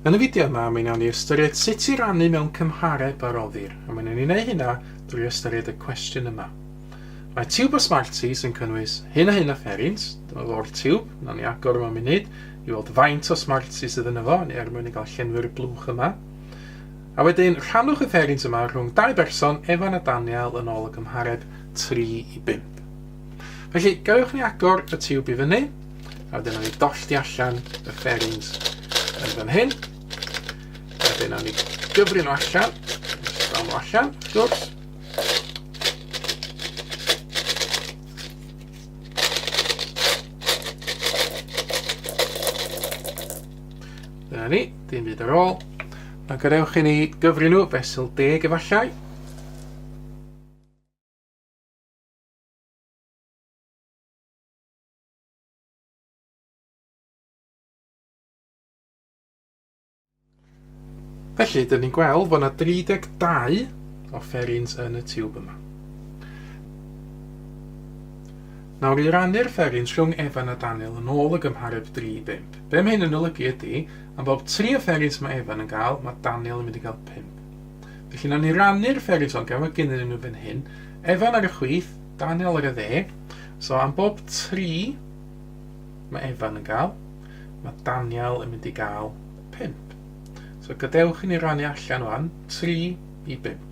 Yn y fideo yma, mi wnawn ni ystyried sut i rannu mewn cymhareb a roddir, a mi wnawn ni wneud hynna drwy ystyried y cwestiwn yma. Mae tiwb o Smarties yn cynnwys hyn a hyn o ferins, dyma fo'r tiwb, wnawn ni agor yma munud i weld faint o Smarties sydd yn efo, ni er mwyn i gael llenwi'r blwch yma. A wedyn, rhannwch y ferins yma rhwng dau berson, Evan a Daniel, yn ôl y cymhareb 3 i 5. Felly, gallwch ni agor y tiwb i fyny, a wedyn ni dollti allan y fairings yn fan hyn. A wedyn ni gyfri nhw allan, dal nhw allan, wrth gwrs. Dyna ni, dim byd ar ôl. Mae'n gadewch i ni gyfri nhw fesul deg efallai. Felly, dyn ni'n gweld bod yna 32 o fferins yn y tiwb yma. Nawr i rannu'r fferins rhwng Evan a Daniel yn ôl y gymhareb 3-5. Be mae hyn yn olygu ydy, am bob 3 o fferins mae Evan yn gael, mae Daniel yn mynd i gael 5. Felly na ni rannu'r fferins ond gael mae gennym nhw fan hyn, Evan ar y chwith, Daniel ar y dde. So am bob tri mae Evan yn gael, mae Daniel yn mynd i gael 5. So gadewch i ni rannu allan wan, 3 i 5.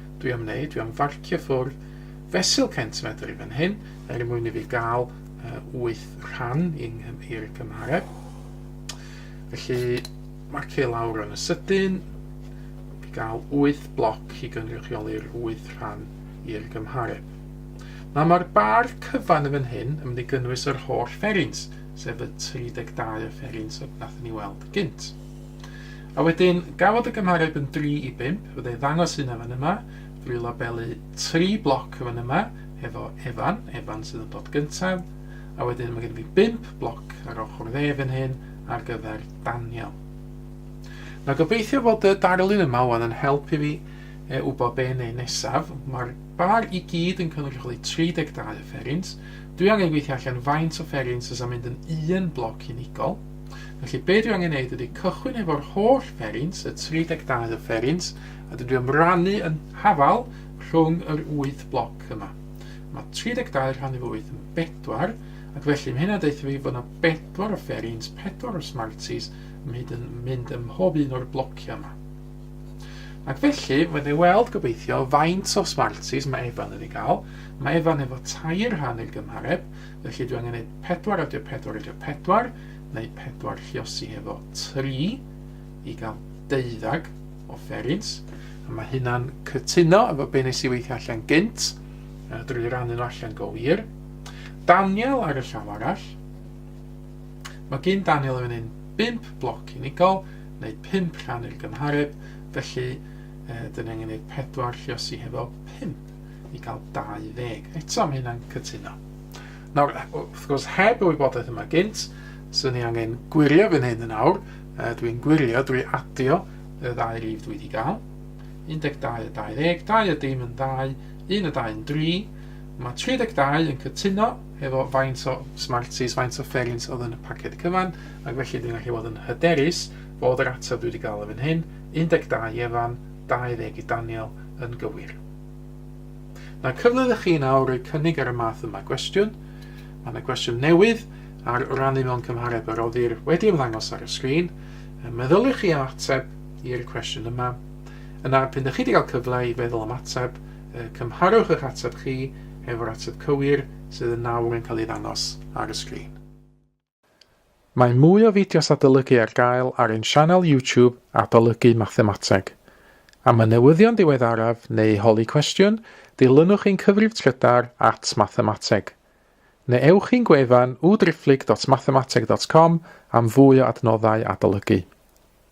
Dwi am wneud, dwi am farcio ffwrdd fesul centimedr i fan hyn, er mwyn i fi gael uh, 8 rhan i'r cymhareb. Felly, marcio lawr yn y sydyn, i gael 8 bloc i gynrychioli'r 8 rhan i'r gymhareb. Nawr mae'r bar cyfan yn fan hyn yn mynd i gynnwys yr holl fferins, sef y 32 o fferins oedd nath ni weld gynt. A wedyn, gafodd y gymhareb yn 3 i 5, fydda i'n ddangos hynna fan yma, drwy labelu 3 bloc fan yma, hefo Evan, Evan sydd yn dod gyntaf, a wedyn mae gen i fi 5 bloc ar ochr dde fan hyn ar gyfer Daniel. Mae gobeithio bod y darlun yma wan yn help i fi e, wybod be neu nesaf. Mae'r bar i gyd yn cynrychioli 32 offerins. Dwi angen gweithio allan faint o offerins sy'n mynd yn un bloc unigol. Felly be dwi angen neud ydy cychwyn efo'r holl ferins, y 32 o ferins, a dwi am rannu yn hafal rhwng yr 8 bloc yma. Mae 32 rhan efo 8 yn 4, ac felly mae hynna deutha fi fod yna 4 o ferins, 4 o smarties yn mynd yn mynd ym mhob un o'r blociau yma. Ac felly, mae ni weld gobeithio faint o smarties mae Evan yn ei gael. Mae Evan efo tair rhan i'r gymhareb, Felly dwi angen neud 4 adio 4 adio 4, neu 4 lliosi hefo 3 i gael deuddag o fferins. A mae hynna'n cytuno efo be nes i weithio allan gynt, a drwy rannu nhw allan go wir. Daniel ar y llaw arall. Mae gyn Daniel yn un 5 bloc unigol, neu 5 rhan i'r gymhareb, felly e, dyn ni angen neud 4 lliosi hefo 5. i gael 20. Eto, mae hynna'n cytuno. Nawr, wrth gwrs, heb y wybodaeth yma gynt, swn i angen gwirio fy hyn yn awr. Dwi'n gwirio drwy adio y ddau rif dwi wedi gael. 12 a 20, 2 a dim yn ddau, 1 a 2 yn 3. Mae 32 yn cytuno efo faint o Smarties, faint o fferins oedd yn y paced cyfan, ac felly dwi'n gallu bod yn hyderus bod yr ateb dwi wedi gael yn hyn, 12 i Efan, 20 i Daniel yn gywir. Mae cyfle da chi nawr roi cynnig ar y math yma gwestiwn. Mae yna gwestiwn newydd ar rannu mewn cymhareb a roddir wedi ymddangos ar y sgrin. Meddyliwch chi am ateb i'r cwestiwn yma. Yna, pyn ydych chi wedi cael cyfle i feddwl am ateb, cymharwch eich ateb chi efo'r ateb cywir sydd yn nawr yn cael ei ddangos ar y sgrin. Mae mwy o fideos adolygu ar gael ar ein sianel YouTube Adolygu Mathemateg. Am y newyddion diweddaraf neu holi cwestiwn, dilynwch ein cyfrif trydar at Mathemateg. Neu ewch i'n gwefan www.driphlyg.mathemateg.com am fwy o adnoddau adolygu.